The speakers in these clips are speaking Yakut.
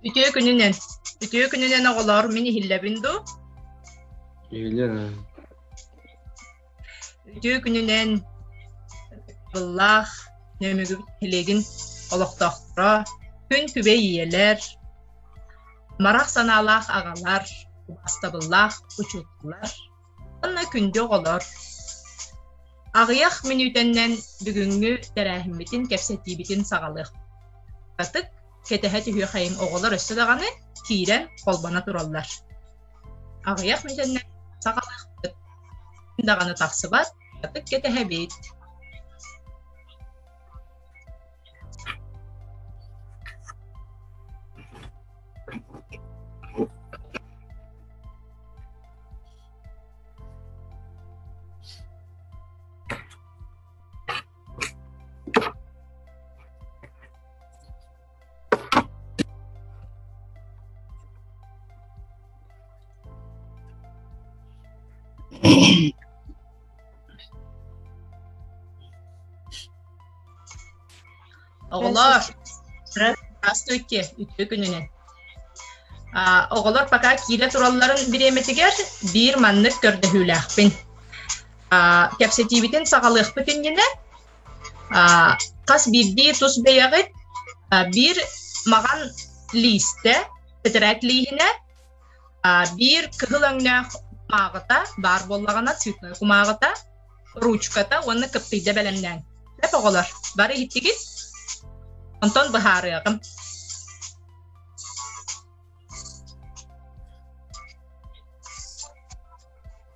Үтүө күнүнэн. Үтүө күнүнэн оҕолоор, мин иһиллэбин дуу? Иһиллэн. Үтүө күнүнэн быллаах нөмүгүбүт тилигин олохтоохторо, күн күбэй ийэлэр, марах санаалаах аҕалар, убастабыллаах учууталлар уонна күндү оҕолор. Аҕыйах мүнүүтэннэн бүгүҥҥү тэрээһиммитин кэпсэтиибитин саҕалыах. Ытык, кэтэһэ түһүөхэйин оҕолор өссө даҕаны киирэн, холбоно тураллар. Аҕыйах мизэннээх саҕалаахпыт даҕаны тахсыбат, ытык кэтэһэбит Оҕолор, здравствуйте, үтүө күнүнэн. Оҕолор пока киирэ туралларын бириэмэтигэр биир маннык көрдөһүүлээхпин. Кэпсэтиибитин саҕалыахпыт иннинэ хас биирдии тус бэйэҕит биир маҕан лиистэ тэтэрээт лииһинэ биир кыһыл өҥнөөх кумааҕыта баар буоллаҕына цветной кумааҕыта ручката уонна кыптыйда бэлэмнээҥ сөп оҕолор бары иһиттигит онтон быһаарыаҕым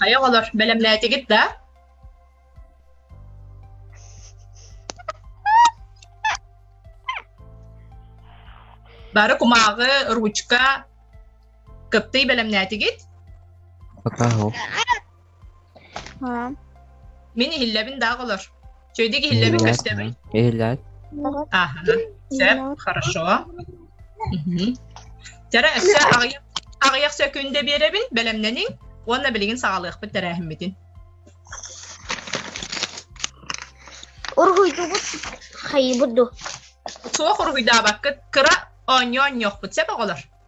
Хайа оҕолор, бэлэмнээтигит да? Бары кумааҕы, ручка, Кыптый бэлэмнээтигит? Атаһо. Мин иһиллэбин да оҕолор. Чөйдик иһиллэбин көстөбүн. Иһиллэт. Ага. Все, хорошо. Тара өссө аҕыйах сөкүндэ биэрэбин, бэлэмнэниҥ, уонна билигин саҕалыахпыт тэрээһиммитин. Уруһуйдубут хайыбыт ду. Суох уруһуйдаабаккыт, кыра оонньоон ньохпут сеп оҕолор.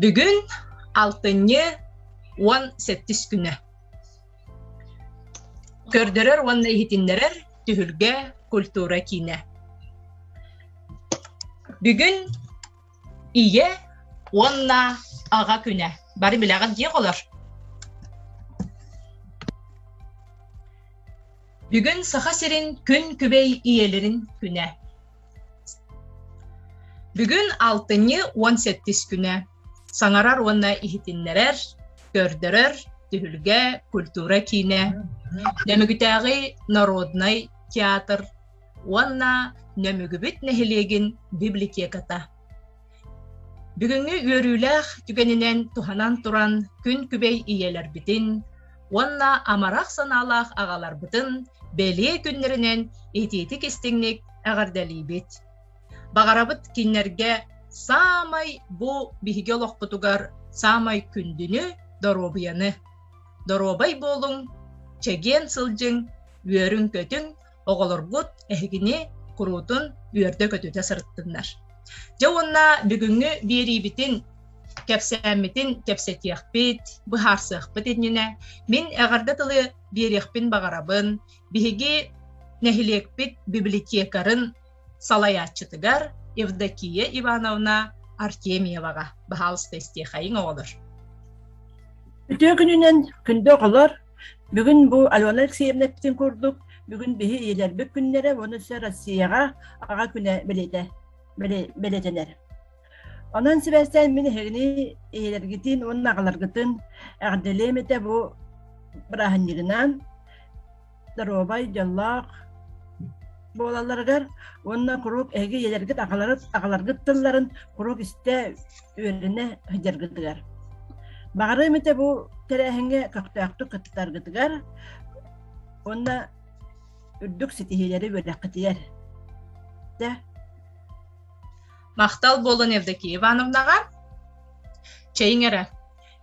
Бүгүн алтынньы уон сэттис күнэ. Көрдөрөр уонна иһитиннэрэр түһүлгэ культура киинэ. Бүгүн ийэ уонна аҕа күнэ. Бары билэҕит дии олор. Бүгүн Саха сирин күн күбэй ийэлэрин күнэ. Бүгүн алтынньы уон сэттис күнэ. Саҥарар уонна иһитиннэрэр, көрдөрөр түһүлгэ культура киинэ, Нөмүгүтээҕи народнай театр уонна Нөмүгүбүт нэһилиэгин библиотеката. Бүгүҥҥү үөрүүлээх түгэнинэн туһанан туран күн күбэй ийэлэрбитин уонна амарах санаалаах аҕаларбытын бэлиэ күннэринэн итиитик-истиҥник эҕэрдэлиибит. Баҕарабыт кинилэргэ саамай бу биһиги олохпутугар саамай күндүнү, доруобуйаны. Доруобай буолуҥ, чэгиэн сылдьыҥ, үөрүҥ-көтүҥ, оҕолорбут эһигини куруутун үөрдэ-көтүтэ сырыттыннар. Дьэ уонна бүгүҥҥү биэриибитин кэпсээммитин кэпсэтиэхпит, быһаарсыахпыт иннинэ мин эҕэрдэ тылы биэриэхпин баҕарабын биһиги нэһилиэкпит библиотекарын салайааччытыгар Евдокия Ивановна Артемьеваҕа баһаалыста истиэхэйиҥ оҕолор. Үтүө күнүнэн күндү оҕолор Бүгүн бу Алена Алексеевнаптын курдук бүгүн биһи ийэлэрбит күннэрэ уонна сө Россияҕа аҕа күнэ бэлитэ бэлитэнэр. Онон сибээстээн мин эһигини ийэлэргитин уонна аҕаларгытын эҕдэлиэм этэ бу бырааһынньыгынан доруобай дьоллоох буолалларыгар уонна куруук эһиги ийэлэргит аҕаларыт аҕаларгыт тылларын куруук истэ үөрүнэ сылдьаргытыгар. Баҕарыам этэ бу тэрээһиҥҥэ көхтөөхтүк кыттаргытыгар уонна үрдүк ситиһиилэри үөрэххитигэр. Дэ. Махтал буолан Евдокия Ивановнаҕа. Чэйиҥ эрэ.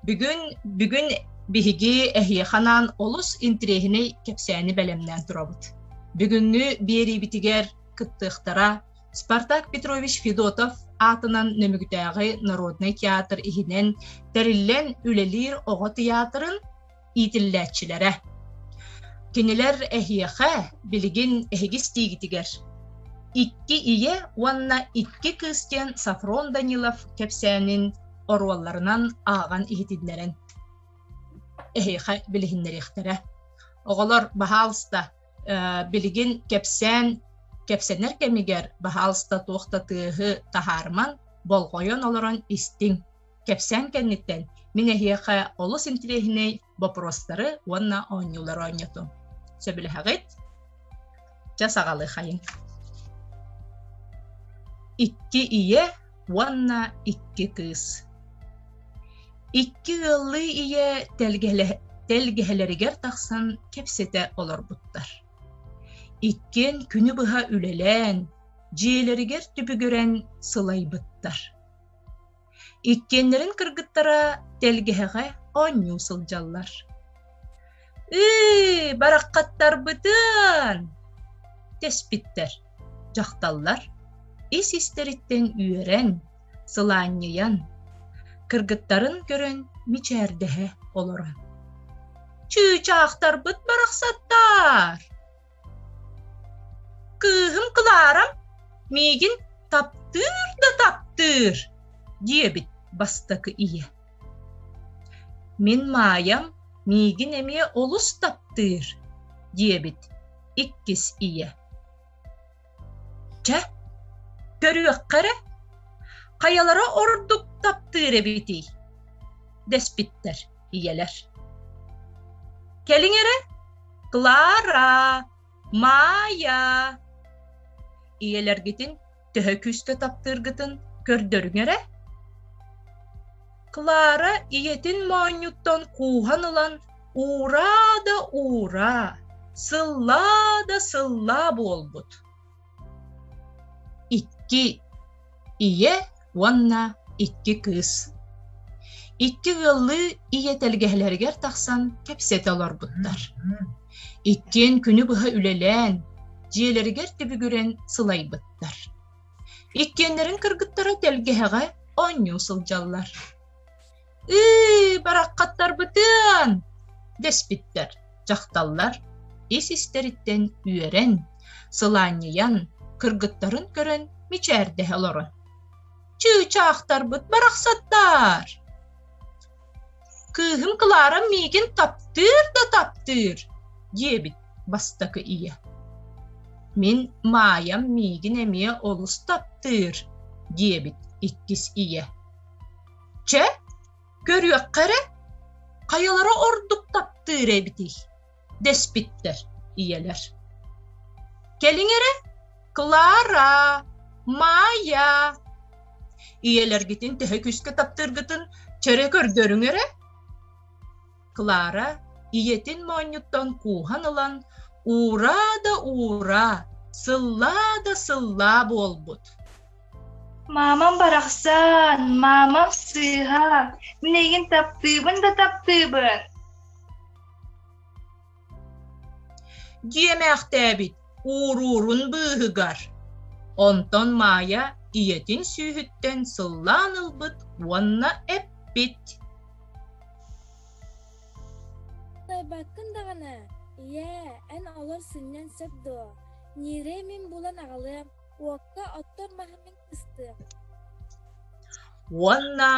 Бүгүн бүгүн биһиги эһиэханаан олус интириэһинэй кэпсээни бэлэмнээн турабыт. Бүгүҥҥү биэриибитигэр кыттыахтара, Спартак Петрович Федотов аатынан Нөмүгүтээҕи народнай театр иһинэн тэриллэн үлэлиир оҕо тыйаатырын иитиллээччилэрэ. Кинилэр эһиэхэ билигин эһиги истиигитигэр икки ийэ уонна икки кыыс диэн Сафрон Данилов кэпсээнин оруолларынан ааҕан иһитиннэрэн эһиэхэ билиһиннэриэхтэрэ. Оҕолор, баһаалыста, билигин кэпсээн кэпсэнэр кэмигэр баһаалыста туох да тыаһы таһаарыман болҕойон олорон истиҥ кэпсээн кэнниттэн мин эһиэхэ олус интириэһинэй бопуруостары уонна оонньуулары оонньотум сөбүлэһэҕит дьэ саҕалыахайыҥ икки ийэ уонна икки кыыс. Икки ыаллыы ийэ тэлгэһэлэригэр тахсан кэпсэтэ олорбуттар. Иккиэн күнү быһа үлэлээн, дьиэлэригэр түбүгүрэн сылайбыттар. Иккиэннэрин кыргыттара тэлгэһэҕэ оонньуу сылдьаллар. Ыы, бараххаттарбытын! тэспиттэр. Дьахталлар ис-истэриттэн үөрэн, сылаанньыйан, кыргыттарын көрөн мичээрдэһэ олорон. «Чыычаахтарбыт барахсаттар!» Кыыһым Кларам миигин таптыыр да таптыыр, диэбит бастакы ийэ. Мин Маайам миигин эмиэ олус таптыыр, диэбит иккис ийэ. Чэ, көрүөххэ эрэ, хайалара ордук таптыыр эбитий? дэспиттэр ийэлэр. Кэлиҥ эрэ, Клара, Маайа. Ийэлэргитин төһө күүстэ таптыыргытын көрдөрүҥ эрэ. Клара ийэтин моонньуттан кууһан ылан «Ураа да ураа, сыллаа да сыллаа» буолбут. Икки ийэ уонна икки кыыс Икки ыаллыы ийэ тэлгэһэлэригэр тахсан кэпсэтэ олорбуттар. Иккиэн күнү быһа үлэлээн, дьиэлэригэр түбүгүрэн сылайбыттар. Иккиэннэрин кыргыттара тэлгэһэҕэ оонньуу сылдьаллар. «Ыы, бараххаттарбытын!» дэспиттэр. Дьахталлар ис-истэриттэн үөрэн, сылаанньыйан, кыргыттарын көрөн мичээрдэһэ олорон «Чыычаахтарбыт барахсаттар!» Кыыһым Клара миигин таптыыр да таптыыр, диэбит бастакы ийэ. Мин Маайам миигин эмиэ олус таптыыр, диэбит иккис ийэ. Чэ, көрүөххэ эрэ, хайалара ордук таптыыр эбитий? дэспиттэр ийэлэр. Кэлиҥ эрэ, Клара, Майя. Ийэлэргитин төһө күүскэ таптыыргытын чөрө көрдөрүҥ эрэ. Клара ийэтин моонньуттан кууһан ылан «Ураа да ураа, сыллаа да сыллаа» буолбут. Маамам барахсан, маамам сыыһа, мин эйигин таптыыбын да таптыыбын. Дьиэмээхтээбит ууруурун быыһыгар онтон Маайа ийэтин сүүһүттэн сыллаан ылбыт уонна эппит Кыайбаккын даҕаны, ийээ, эн олор сынньан сөп дуо? Ньирэм мин булан аҕалыам, уокка оттор маһым мин уонна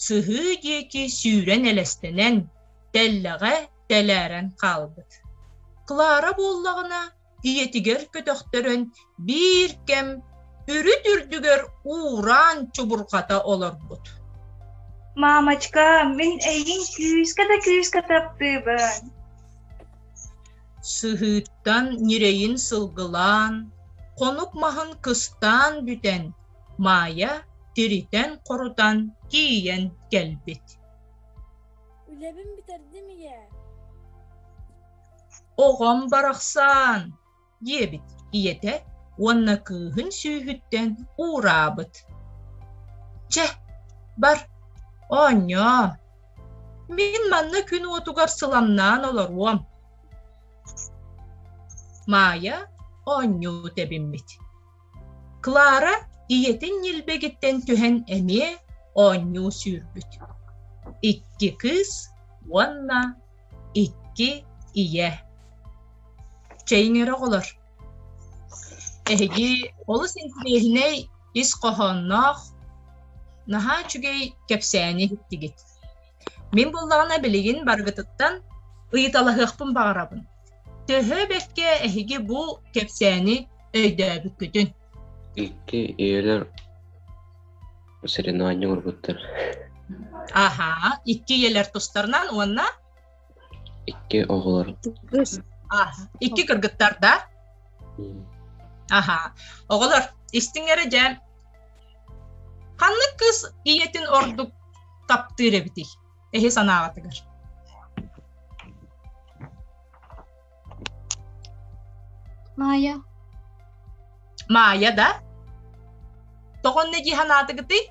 сыһыы диэки сүүрэн элэстэнэн тэллэҕэ тэлээрэн хаалбыт клара буоллаҕына ийэтигэр көтөхтөрөн биир кэм үрүт үрдүгэр уураан чубурҕата олорбут мамочка мин эйигин күүскэ да күүскэ таптыыбын сыһыыттан ньирэйин сылгылаан, хонук маһын кыстаан бүтэн, Маайа тиритэн-хорутан тиийэн кэлбит. Үлэбин бүтэрдим ийээ. Оҕом барахсан, диэбит ийэтэ уонна кыыһын сүүһүттэн уураабыт. Чэ, бар, оонньоо, Мин манна күн уотугар сыламнаан олоруом. Маайа оонньуу тэбиммит. Клара ийэтин ньилбэгиттэн түһэн эмиэ оонньуу сүүрбүт. Икки кыыс уонна икки ийэ. Чэйиҥ эрэ оҕолор Эһиги олус интириэһинэй ис хоһоонноох, наһаа үчүгэй кэпсээни иһиттигит. Мин буоллаҕына билигин барыгытыттан ыйыталаһыахпын баҕарабын. Төһө бэккэ эһиги бу кэпсээни өйдөөбүккүтүн? Икки ийэлэр соревнование уурбуттар. Аһаа, икки ийэлэр тустарынан уонна Икки оҕолор. Кыыс. А, икки кыргыттар да? Аха. Оҕолор, истиҥ эрэ дьэн. Ханнык кыыс ийэтин ордук таптыыр эбитий? Эһи санааҕытыгар. Маайа. Маайа да? Тоҕонне дии санаатыгытый?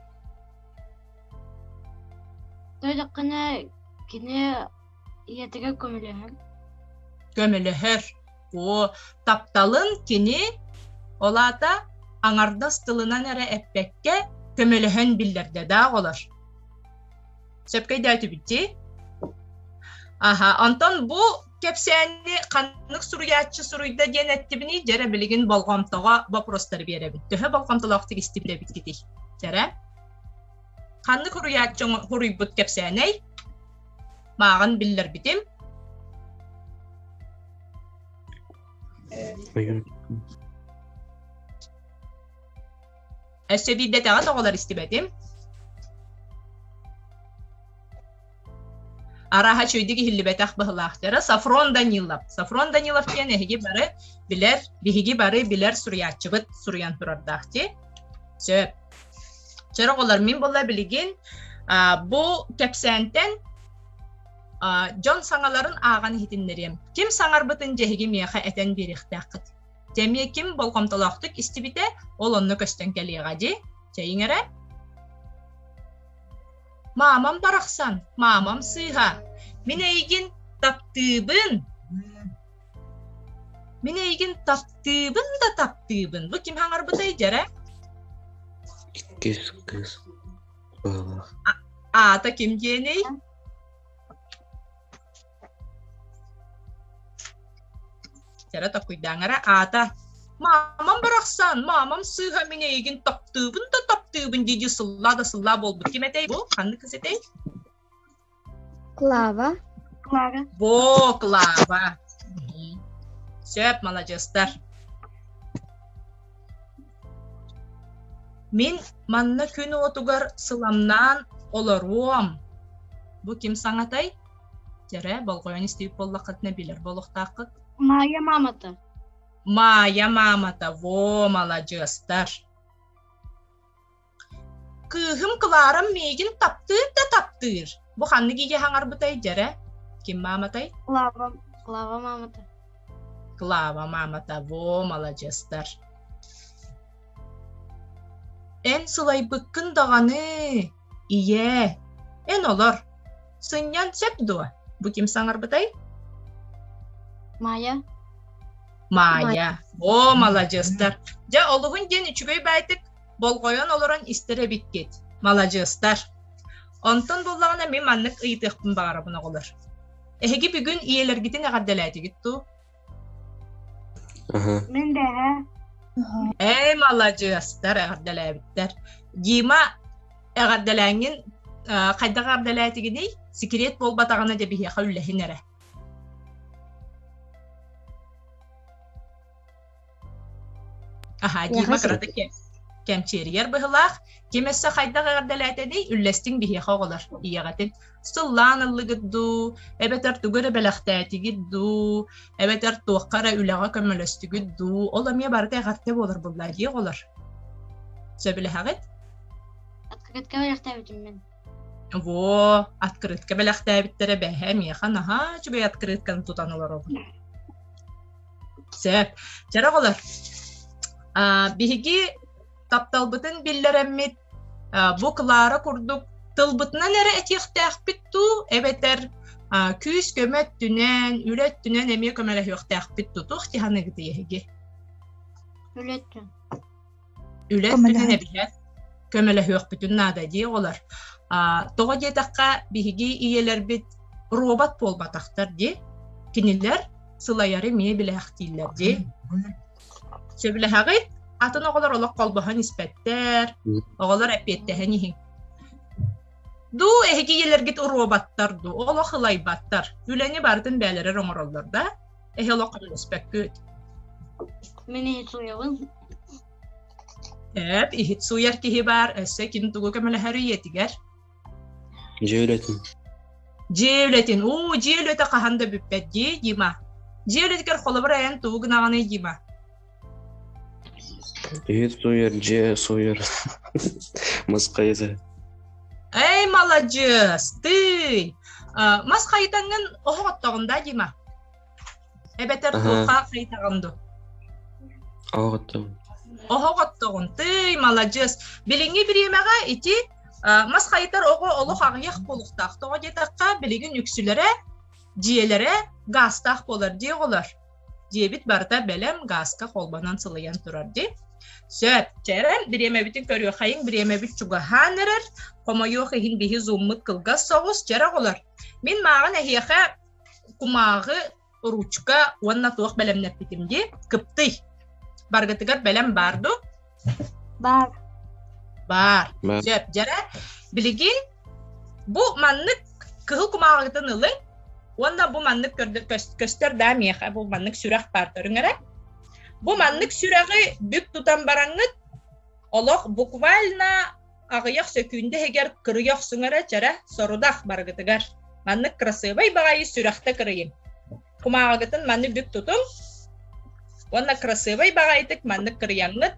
Дойдукканы кини ийэтигэр көмөлөһөн. Көмөлөһөр. Оо, тапталын кини ол аата аҥардас тылынан эрэ эппэккэ көмөлөһөн биллэрдэ да оҕолор. Сөпкөйдөөтүбүт дии. Аха, онтон бу кэпсээни ханнык суруйааччы суруйда диэн эттибиний дьэрэ билигин болҕомтоҕо бопростары биэрэбин төһө болҕомтолоохтук истибит эбиккитий дьэрэ ханнык суруйааччы суруйбут кэпсээнэй мааҕын биллэрбитим өссө биирдэтэҕэ тоҕолор истибэтим Арааһа үчүгэйдик иһиллибэтэх быһылаах дьара Сафрон Данилов. Сафрон Данилов диэн эһиги бары билэр, биһиги бары билэр суруйааччыбыт суруйан турардаах дии. Сөп. Чөр оҕолор, мин була билигин бу кэпсээнтэн дьон саҥаларын ааҕан иһитиннэриэм. Ким саҥарбытын дьэһиги миэхэ этэн биэриэхтээххит. Тэмиэ ким болҕомтолоохтук истибитэ, ол онно көстөн кэлиэҕэ дии. Чэйиҥ эрэ. Маамам барахсан, маамам сыыһа. Мин эйигин таптыыбын. Мин эйигин таптыыбын да таптыыбын. Бу ким хаҥарбытай дьэрэ? Иккис кыыс баала. Аата ким диэний? Кэрэ токуйдааҥара аата маамам барахсан, маамам сыыһа мин эйигин таптыыбын да таптыыбын дии-дии сыллаа да сыллаа буолбут. Ким этэй бу? Ханнык кыз этэй? Клава. Клава. Во, Клава. Сөп, маладьыастар. Мин манна күн уотугар сыламнаан олоруом. Бу ким саҥатай? Дьэрэ, болҕойон истибит буоллаххытына билэр буолуохтааххыт. Маайа маамата. Маайа маамата, во, маладьыастар. Кыыһым Кларам миигин таптыыр да таптыыр. Бу ханнык ийэ хаҥарбытай, дьэрэ? Ким мааматай? Клава, Клава маамата. Клава маамата, во, маладьыастар. Эн сылайбыккын даҕаны, Ийээ, эн олор. Сынньан сөп дуо? Бу ким саҥарбытай? Майя. Майя. О, маладьыстар. Дьэ, олуһун диэн үчүгэй байтык болҕойон олорон истэр эбиккит. Маладьыстар. Онтон буллаҕына мин маннык ыйытыахпын баҕарабын оҕолор. Эһиги бүгүн ийэлэргитин эҕэрдэлээтигит дуу? Мин бэҕэ Ээ, маладьыастар, эҕэрдэлээбиттэр. Дима, эҕэрдэлээҥҥин э, хайдаҕа эҕэрдэлээтигиний? Секрет буолбатаҕына дьэ биһиэхэ үллэһин эрэ. Аһа, Дима кырата кэмчиэрийэр быһылаах, ким өссө хайдах эҕэрдэлээтэний, үллэстиҥ биһиэхэ оҕолор, ийэҕитин. Сыллаан ыллыгыт дуу, эбэтэр тугу эрэ бэлэхтээтигит дуу, эбэтэр туохха эрэ үлэҕэ көмөлөстүгүт дуу, ол эмиэ барыта эҕэрдэ буолар буллаа дии оҕолор. Сөбүлэһэҕит? Открытка бэлэхтээбитим мен. Во, открытка бэлэхтээбиттэрэ бэһэ, миэхэ наһаа үчүгэй открытканы тутан олоробун. Сөп. Чара оҕолор, биһиги тапталбытын биллэрэммит бу Клара курдук тылбытынан эрэ этиэхтээхпит дуу, эбэтэр күүс-көмө өттүнэн, үлэ өттүнэн эмиэ көмөлөһүөхтээхпит дуу? Туох дьаһаныгытый эһиги? Үлэттэн. үлэспитин эбиһэр көмөлөһүөхпүтүн наада дии оҕолор тоҕо диэтэххэ биһиги ийэлэрбит робот буолбатахтар дии кинилэр сылайары эмиэ билээхтииллэр дии сөбүлэһэҕит атын оҕолор олох холбоһон испэттэр оҕолор эпиэттэһэн иһиҥ дуу эһиги ийэлэргит роботтар дуу олох ылайбаттар үлэни барытын бээлэрэр оҥороллор да Эһи олох көрүнүспэккүт. Мин иһит сууйабын. Эп, иһит сууйар киһи баар, өссө кини тугу көмөлөһөр үйэтигэр. Дьэ үлэтин. Дьэ үлэтин, уу, дьэ үлөтө хаһан да бүппэт дии, Дима. Дьэ үлэтигэр холобур айан тугу гынаҕыный, Дима? Привет, суер, дьэ, суер. Маскайыза. Эй, маладьыас, ты! Мас хайытаңын оһох оттоҕун да дима? Эбэтэр туохха хайытаҕын ду? Оһох оттоҕун. Оһох оттоҕун. Ты, маладьыас. Билиҥҥи бириэмэҕэ ити мас хайытар оҕо олох аҕыйах буолуохтаах. Тоҕо диэтэххэ, билигин үксүлэрэ дьиэлэрэ гаастаах буолар дии оҕолор. Дьиэбит барыта бэлэм гааска холбонон сылыйан турар дии. Сөп. Чэрэн, бириэмэбитин көрүөхэйиҥ, бириэмэбит чугаһаан эрэр. Хомойуох иһин биһи зуммут кылгас соҕус, чэрэ оҕолор. Мин мааҕын эһиэхэ кумааҕы, ручка уонна туох бэлэмнэппитим дии, кыптый. Баргытыгар бэлэм баар дуу? Баар. Баар. Баар. Сөп. Дьара, билиги бу маннык кыһыл кумааҕыгытын ылыҥ уонна бу маннык көстөр да миэхэ бу маннык сүрэх баар көрүҥ эрэ. Бу маннык сүрэҕи бүк тутан бараҥҥыт олох буквально аҕыйах сөкүүндэ иһигэр кырыйа охсуҥ эрэ чэрэ сорудах барыгытыгар. Маннык кырасыабай баҕайы сүрэхтэ кырыйыҥ. кумааҕыгытын манны бүк тутуҥ уонна красивый баҕайытык маннык кырыйаҥҥыт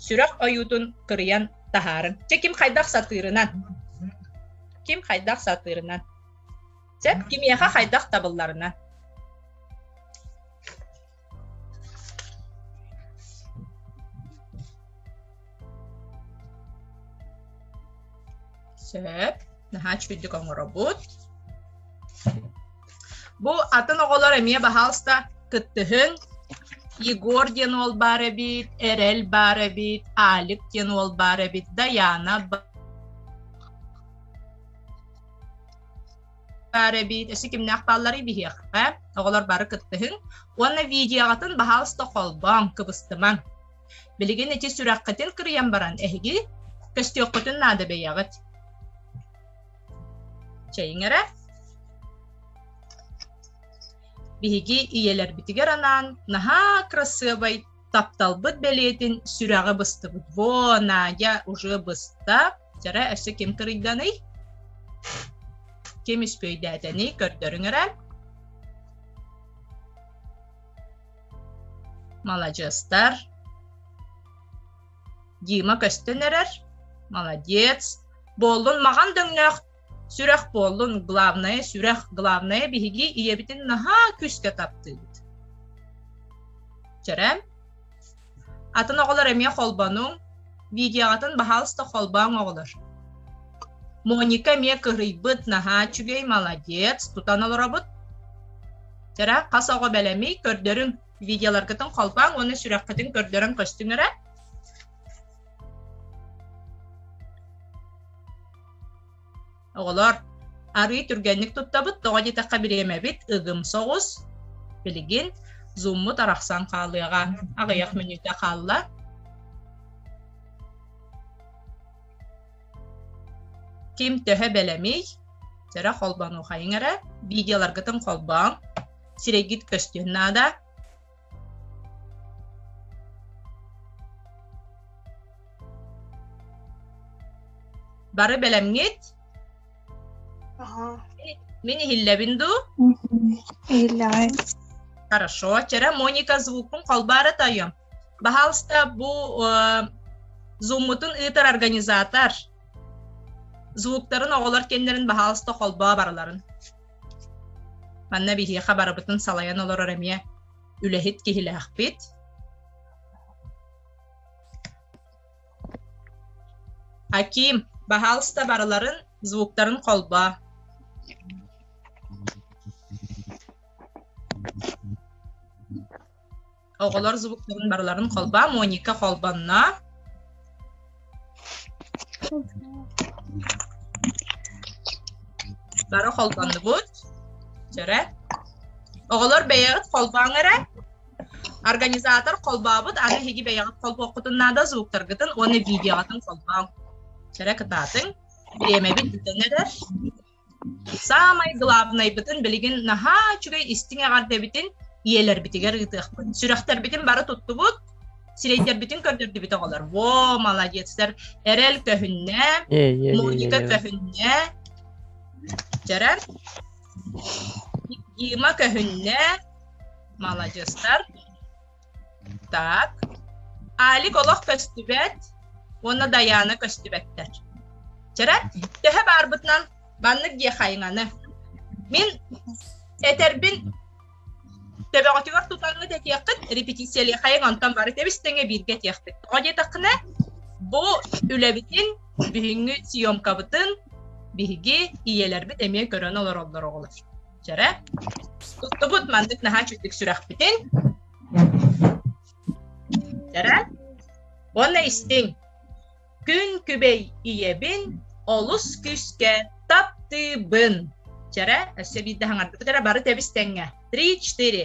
сүрэх ойуутун кырыйан таһаарыҥ чэ ким хайдах сатыырынан ким хайдах сатыырынан чэ кимиэхэ хайдах табылларынан Сөп. Наһаа үчүгүйдүк оҥоробут. Бу атын оҕолор эмиэ баһаалыста кыттыһыҥ. Егор диэн уол баар эбит, Эрэл баар эбит, Алик диэн уол баар эбит, Даяна баар эбит эси кимнээх баалларый биһиэхэ оҕолор бары кыттыһыҥ уонна видеоҕытын баһаалыста холбооҥ кыбыстымаҥ билигин ити сүрэххитин кырыйан баран эһиги көстүөххүтүн наада бэйэҕит чэйиҥ эрэ биһиги ийэлэрбитигэр анаан наһаа кырасыабай тапталбыт бэлиэтин сүрэҕи быстыбыт. Во, Надя уже быста. Жара өссө ким кырыйданый? Ким үспүөйдээтэний көрдөрүҥ эрэ. Маладьыастар. Дима көстөн эрэр. Молодец. Буоллун маҕан дөҥнөөх Сүрэх буоллун, главное сүрэх, главное биһиги ийэбитин наһаа күүскэ таптыыбыт. Чэрэн, атын оҕолор эмиэ холбонуҥ, видеоҕытын баһаалыста холбооҥ оҕолор. Моника эмиэ кырыйбыт, наһаа үчүгэй, молодец, тутан олоробут. Чэрэ, хас оҕо бэлэми көрдөрүҥ, видеоларгытын холбооҥ уонна сүрэххитин көрдөрөн көстүҥ эрэ. Оҕолор, арыы түргэнник туттабыт, тоҕо диэтэххэ бириэмэбит ыгым соҕус. Билигин зуммут арахсан хаалыаҕа. Аҕыйах мүнүүтэ хаалла. Ким төһө бэлэмий? Сэрэ холбонуохайың эрэ, видеоларгытын холбооҥ, сирэйгит көстүөн наада. Бары бэлэмҥит? Ага. Мин иһиллэбин дуу? Иһиллэҕин. Хорошо. Вчера Моника звукун холбаары тайым. Пожалуйста, бу э, Zoom-мутун ыытар организатор звуктарын оҕолор кэннерин баһаалыста холбоо барыларын. Манна биһиэхэ барыбытын салайан олорор эмиэ үлэһит киһилээхпит. Аким, баһаалыста барыларын звуктарын холбоо. Оҕолор звуктарын барыларын холбоом. Моника холбонно. Бары холбоннубут. Жара. Оҕолор бэйэҕит холбооҥ эрэ. Организатор холбообут, аны эһиги бэйэҕит холбооххутун наада звуктаргытын уонна видеоҕытын холбооҥ. Жара кытаатыҥ. Бириэмэбит бүтэн эрэр. Саамай главнайбытын билигин наһаа үчүгэй истиҥ эҕэрдэбитин ийэлэрбитигэр ыытыахпыт. Сүрэхтэрбитин бары туттубут, сирэйдэрбитин көрдөрдүбүт оҕолор. Во, молодец, сэр Эрэл көһүннэ, Моника көһүннэ, Жәрэн, Дима көһүннэ, молодецтар. Так, Алик олох көстүбэт уонна Дайаана көстүбэттэр. Чара, төһө баарбытынан маннык диэ хайыңаны. Мин этэрбин төбөҕүтүгэр тутаҥҥыт этиэххит, репетициялыы хайың онтон бары тэбистеҥe бииргэ диэхпит. Тоҕо диэтэххинэ, бу үлэбитин, бүгүҥҥү съемкабытын биһиги ийэлэрбит эмиэ көрөн олороллор оҕолор. Дьара, туттубут маннык наһаа чуттук сүрэхпитин. Дьара, уонна истиҥ. Күн күбэй ийэбин олус күүскэ таптыыбын. Дьара, өссө биирдэ хаҥардыбыт эрэ бары тэбис тэҥҥэ. Три, четыре.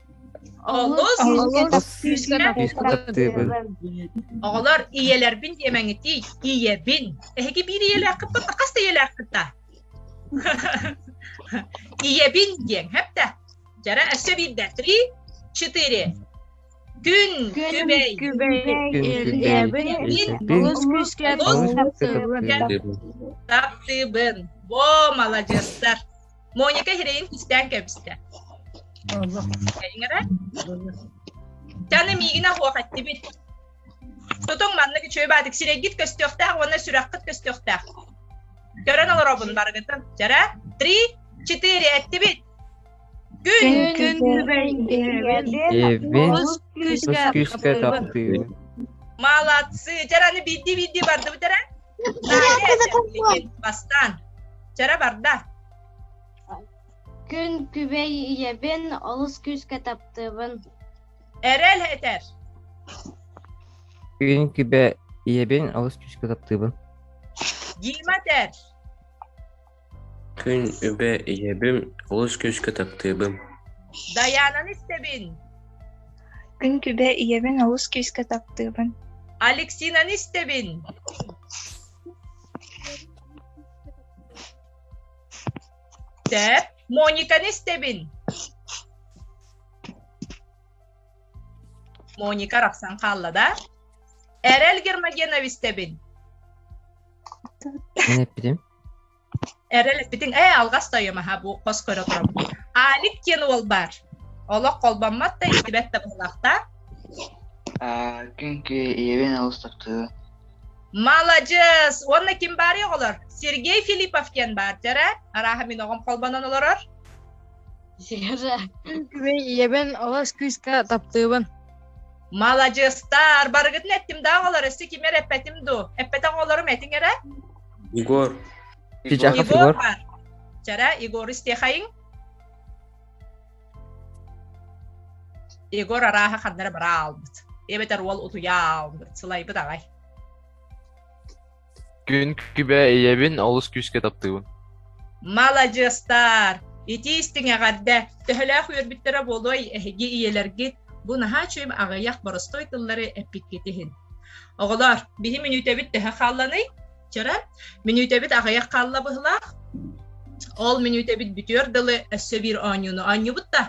Оҕолор ийэлэрбин диэмэҥитий, ийэбин. Эһиги биир ийэлээххит, хас да ийэлээххит да? ийэбин диэн, хэпtä. Жара өссө биирдэ. Три, четыре. Күн, күбэй. Күбэй. Таптыбын. Бо, молодецтар. Моника хирэйин түстээн кэбистэ. Таны миигинэ хуохаттибит. Тутуҥ маннык үчүгэй баадык сирэйгит көстүөхтээх уонна сүрэххит көстүөхтээх. Көрөн олоробун барыгытын. Жара, три, четыре эттибит. Күн. Күн күскө тахтыы. Молодцы. Жараны бирди-бирди барды бүтэрен. Бастаан. Чара барда. Күн күбэй ийэбин олус күүскэ таптыыбын. Эрэл этэр. Күн күбэ ийэбин олус күүскэ таптыыбын. Дима этэр. Күн үбэ ийэбим, олус күүскэ таптыыбын. Дайаананы истэбин. Күн күбэ ийэбин олус күүскэ таптыыбын. Алексинаны истэбин. Тэп, Мониканы истэбин. Моника арахсан хаалла да. Эрэл Гермогенов истэбин. Ne yapayım? Эрэлиппитиҥ, ээ, алҕас тойом аһа бу хос көрө турам. Аник диэн уол баар. Олох холбоммат да, истибэт да буолаахтаа. Аа, күнкү ийэбин алыс таптыы. Маладьыас! Уонна ким баар оҕолор? Сергей Филиппов диэн баар, дьара. Арааха мин оҕом холбонон олорор. Күнкү ийэбин олус күүскэ таптыыбын. Маладьыастар! Барыгытын эттим да оҕолор, өссө кимер эппэтим ду? Эппэтэх оҕолорум этиҥ эрэ? Егор. Егор бар. Чара Егор истиэхэйиҥ. Егор арааһа ханнара бара аалбыт. Эбэтэр уол утуйа аалбыт. Сылайбыт аҕай. Күн күбэ ийэбин олус күүскэ таптыыбын. Маладьыастар! Ити истиҥ эҕэрдэ! Төһөлөөх үөрбүттэрэ буолуой, эһиги ийэлэргит бу наһаа үчүм аҕыйах боростуой тыллары эппиккит иһин. Оҕолоор, биһи мүнүүтэбит төһө хаалланый? Чара, мүнүүтэбит аҕыйах хаалла быһылаах. Ол мүнүүтэбит бүтүөр дылы өссө биир оонньууну оонньубут да.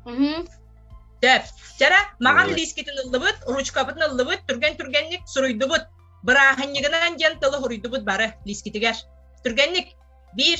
Сөп. Чара, маған лискитин ыллыбыт, ручкабытын ыллыбыт, түргэн-түргэнник суруйдубут. Бырааһынньыгынан диэн тылы хуруйдубут бары лискитигэр. Түргэнник. Биир,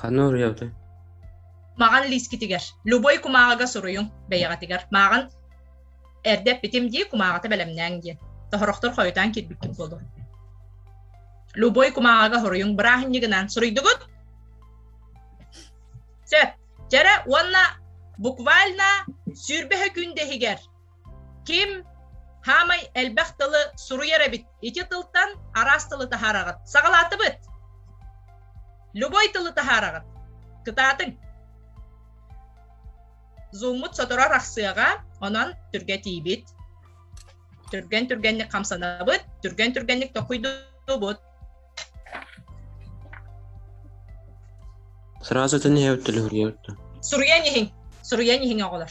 Ханна уруйабытый? Маҕан лиискитигэр. Любой кумааҕыга суруйуҥ бэйэҕитигэр. Мааҕын эрдэ эппитим дии, кумааҕыта бэлэмнээҥ диэн. Тоһорохтор хойутаан киирбиккит буолуо. Любой кумааҕыга хоруйуҥ бырааһынньыгынан суруйдугут. Сөп. Дьэрэ уонна буквально сүүрбэһэ күн дэһигэр Ким хаамай элбэх тылы суруйар эбит. Ити тылтан араас тылы таһаараҕыт. Саҕалаатыбыт. Любой тылы таһаараҕыт. Кытаатыҥ. Зуммут сотору арахсыаҕа, онон түргэтиибит. Түргэн-түргэнник хамсанабыт, түргэн-түргэнник токуйдубут. Сразу этин иһэбит төлөһүрүйэбит да. Суруйан иһиҥ. Суруйан иһиҥ оҕолор.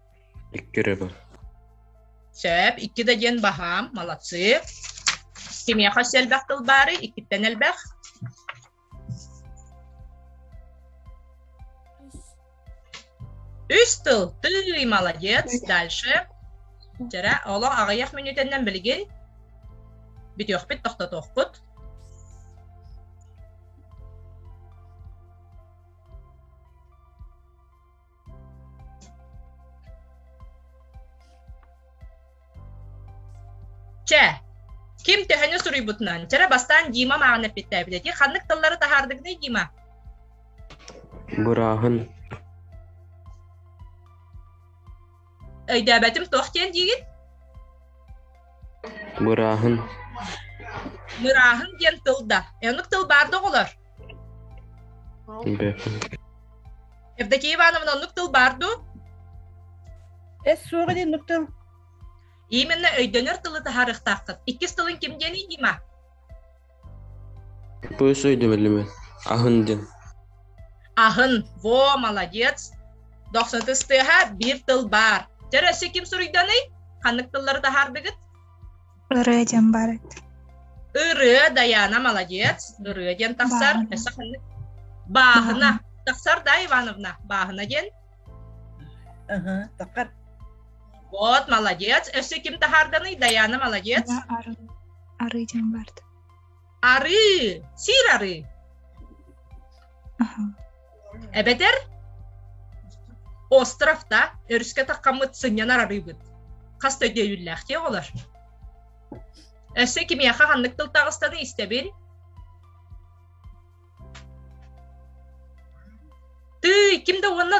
Икки эрэ бар. Сөп. Икки да диэн баһаам. Молодцы. Кимиэхэ үс элбэх тыл баары? Иккиттэн элбэх. Үс тыл. Ты молодец. Дальше. Жара, олох аҕыйах мүнүүтэннэн билигин бүтүөхпүт, тохтотуохпут. Чэ, ким төһөнү суруйбутунан, чэрэ бастаан Дима маҕан эппиттээбит эти ханнык тыллары таһаардыгыный, Дима? Бырааһын өйдөөбөтүм туох диэн диигин мырааһын мырааһын диэн тыл да оннук тыл баар да оҕолор Евдокия Ивановна оннук тыл баар ду эс суоҕа диэн нуктыл именно өйдөнөр тылы таһаарыахтааххыт иккис тылың ким диэн дима Пуйс өйдөмөлүмүн. Аһын диэн. Аһын. Во, молодец. Дохсутус тыаһа биир тыл баар. Чөр өссө ким суруйданый? Ханнык тыллары таһаардыгыт? Ырыа диэн бар. Ырыа, Даяна, молодец. Ырыа диэн тахсар. Өссө ханнык? Бааһына. Тахсар да, Ивановна? Бааһына диэн. Аха, тахар. Вот, молодец. Өссө ким таһаарданый? Даяна, молодец. арыы диэн баарт арыы сиир арыы эбэтэр остров да өрүскэ таккаммыт сынньанар арыыбыт хас да өйдөйүүллээхтии оҕолор өссө кимиэхэ ханнык тылтаҕыстаны истэбин тый ким да уонна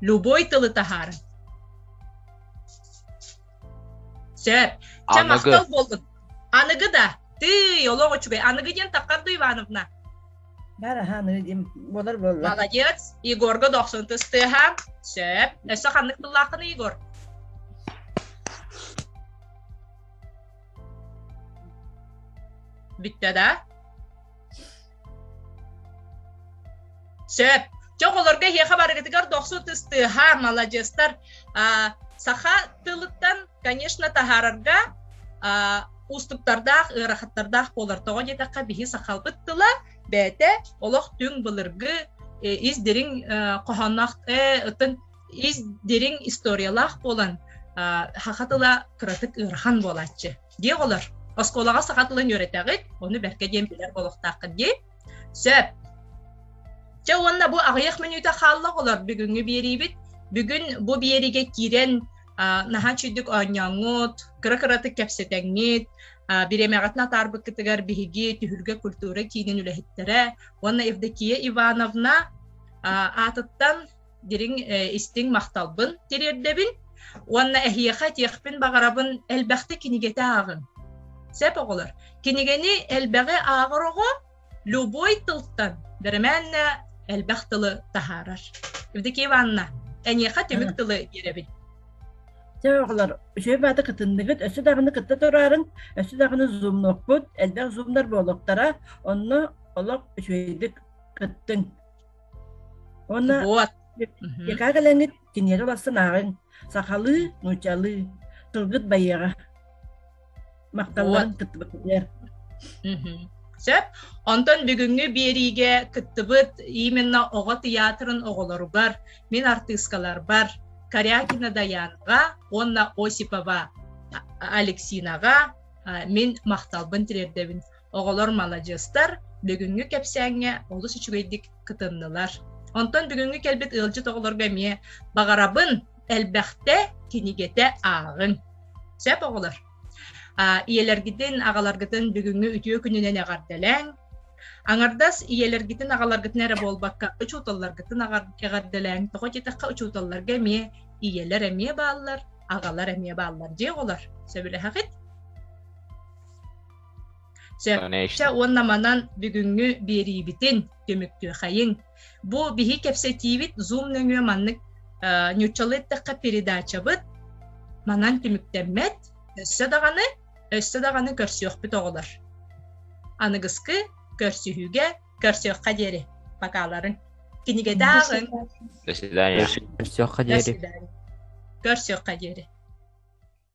Любой тылы таһаар. Сөп. Чэ, махтал болдун. Аныгы да. Ты, олох үчүгэй. Аныгы диэн таққарду Ивановна. Бары аныгы дим болар болла. Молодец. Егорга дохсун тыстыха. Сөп. Өссө ханнык тыллаахын Егор? Bitте да? Сөп. Чох олорго эһиэхэ барыгытыгар дохсу тыстыаха, маладьыастар. саха тылыттан, конечно, таһаарарга уустуктардаах, ыарахаттардаах буолар. Тоҕо диэтэххэ, биһи сахалбыт тыла бэйэтэ олох түҥ былыргы ис дириҥ хоһоонноох, оттон ис дириҥ историялаах буолан, саха тыла кыратык ыарахан буолааччы. дии оҕолор оскуолаҕа саха тылын үөрэтэҕит ону бэркэ диэн билэр буолуохтааххыт дии сөп дьэ уонна бу аҕыйах мүнүүтэ хаалла оҕолор бүгүҥҥү биэриибит бүгүн бу биэриигэ киирэн наһаа үчүгдүк оонньооҥҥут кыра-кыратык кэпсэтэҥҥит бириэмэҕитин атаарбыккытыгар биһиги түһүлгэ культура киинин үлэһиттэрэ уонна Евдокия Ивановна аатыттан дириҥ истиҥ махталбын тириэрдэбин уонна эһиэхэ этиэхпин баҕарабын элбэхтэ кинигэтэ ааҕыҥ сөп оҕолор кинигэни элбэҕи ааҕар оҕо любой тылтан бэримээннэ элбэх тылы таһаарар Евдокия Ивановна эниэхэ түмүк тылы биэрэбин Дьэ оҕолор, үчүгэй баата кытынныгыт, өссө даҕаны кытта тураарыҥ, өссө даҕаны зумнукпут, элбэх зумнар буолуохтара, онно олох үчүгэйдик кыттыҥ. Уонна вот. яка кэлэҥҥит киниэхэ бастан ааҕыҥ. Сахалыы, нуучалыы, тылгыт байыаҕа. Махталларын кыттыбыттыгар. Сөп. Онтон бүгүҥҥү биэриигэ кыттыбыт именно оҕо театрын оҕолоругар, мин артыыскаларбар Корякина Даянга уонна Осипова Алексинаҕа мин махталбын тириэрдэбин. Оҕолор маладьыастар, бүгүҥҥү кэпсээҥҥэ олус үчүгэйдик кытыннылар. Онтон бүгүҥҥү кэлбит ыалдьыт оҕолорго эмиэ баҕарабын, элбэхтэ кинигэтэ ааҕыҥ. Сөп оҕолор. ийэлэргитин, аҕаларгытын бүгүҥҥү үтүө күнүнэн эҕэрдэлээҥ. Аҥардас ийэлэргитин, аҕаларгытын эрэ буолбакка, учууталларгытын эҕэрдэлээҥ. Тоҕо диэтэххэ, учууталларга эмиэ ийэлэр эмиэ бааллар, аҕалар эмиэ бааллар. Дьэ оҕолор, сөбүлэһэҕит? Сөпкө уонна манан бүгүҥҥү биэриибитин түмүктүөхэйиҥ. Бу биһи кэпсэтиибит Zoom нөҥүө маннык ньуччалыы эттэххэ передачабыт манан түмүктэммэт. Өссө даҕаны, өссө даҕаны көрсүөхпүт оҕолор. Аныгыскы көрсүһүүгэ көрсүөххэ диэри. Покаларың. Кинигэтааҕын. До свидания. Көрсүөххэ диэри. Көрсүөххэ диэри.